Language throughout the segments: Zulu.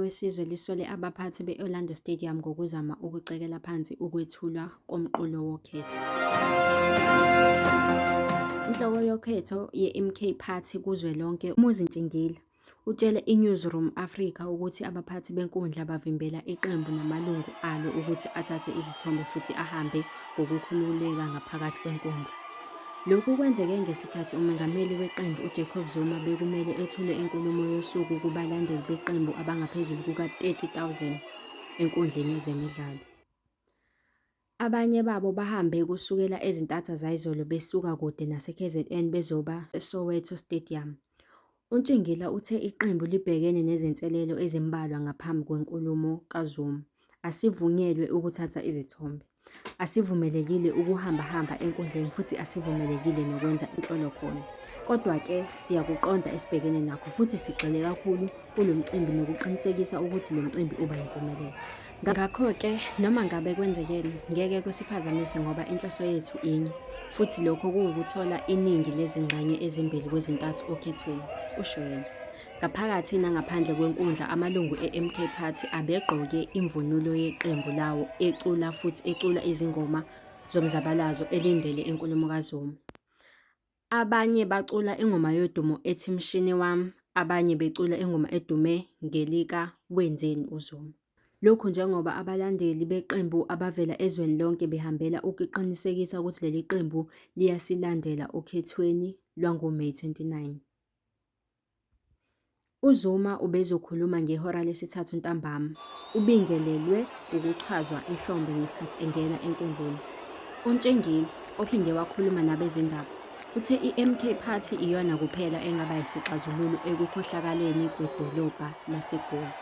wesizwe lisole abaphathi be-Orlando Stadium ngokuzama ukucekela phansi ukwethulwa komqulu wokhetho. Inhloko yokhetho ye-MK Party kuzwelonke uMuzi Ntshingila Utshele iNewzroom Afrika ukuthi abaphathi benkundla bavimbela iqembu namalungu alo ukuthi athathe izithombe futhi ahambe ngokukhululeka ngaphakathi kwenkundla. Lokhu kwenzeke ngesikhathi umengameli weqembu uJacob Zuma bekumele ethule inkulumo yosuku kubalandeli beqembu abangaphezulu kuka-30,000 enkundleni yezemidlalo. Abanye babo bahambe kusukela ezintatha zayizolo besuka kude naseKZN bezoba eSoweto Stadium. UNtshingila uthe iqembu libhekene nezinselelo ezimbalwa ngaphambi kwenkulumo kaZuma. Asivunyelwe ukuthatha izithombe. Asivumelekile ukuhambahamba enkundleni futhi asivumelekile nokwenza inhlolo khona. Kodwa-ke siyakuqonda esibhekene nakho futhi sigxile kakhulu kulo mcimbi nokuqinisekisa ukuthi lo mcimbi uba yimpumelelo. Ngakho-ke noma ngabe kwenzekeni ngeke kusiphazamise ngoba inhloso yethu inye, futhi lokho kuwukuthola iningi lezingxenye ezimbili kwezintathu okhethweni, usho yena. Ngaphakathi nangaphandle kwenkundla amalungu e-MK Party abegqoke imvunulo yeqembu lawo ecula futhi ecula izingoma zomzabalazo elindele inkulumo kaZuma. Abanye bacula ingoma yodumo ethi Mshini Wami, abanye becula ingoma edume ngelika Wenzeni uZuma. Lokhu njengoba abalandeli beqembu abavela ezweni lonke behambela ukuqinisekisa ukuthi leli qembu liyasilandela okhethweni lwangoMeyi 29. UZuma ubezokhuluma ngehora lesithathu ntambama, ubingelelwe ukuchazwa ehlombe ngesikhathi engena enkundleni. UNtshengeli, ophinde wakhuluma nabezindaba, uthe i-MK Party iyona kuphela engaba yisixazululo ekukhohlakaleni kwedolobha laseGoli.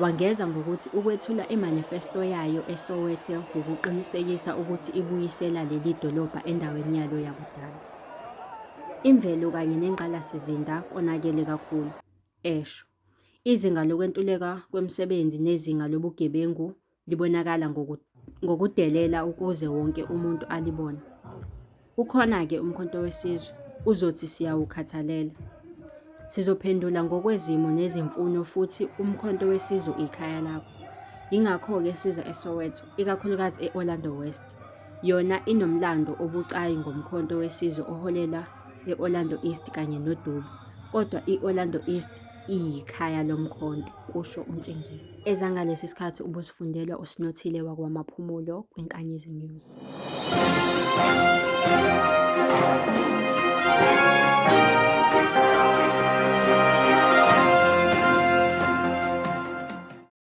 Wangeza ngokuthi ukwethula imanifesto yayo eSoweto wukuqinisekisa ukuthi ibuyisela leli dolobha endaweni yalo yakudala. Imvelo kanye nengqalasizinda konakele kakhulu, esho. Izinga lokwentuleka kwemisebenzi nezinga lobugebengu libonakala ngokudelela ukuze wonke umuntu alibone. Ukhona-ke umkhonto wesizwe uzothi siyawukhathalela. Sizophendula ngokwezimo nezimfuno futhi umkhonto wesizwe ikhaya lakho. Yingakho-ke siza eSoweto, ikakhulukazi e-Orlando West. Yona inomlando obucayi ngomkhonto wesizwe oholela e-Orlando East kanye nodubo, kodwa i-Orlando East iyikhaya lomkhonto, kusho uNtshingiyi. Ezangalesi sikhathi ubuzifundelwa uSinothile wakwaMaphumulo kwiNkanyezi News.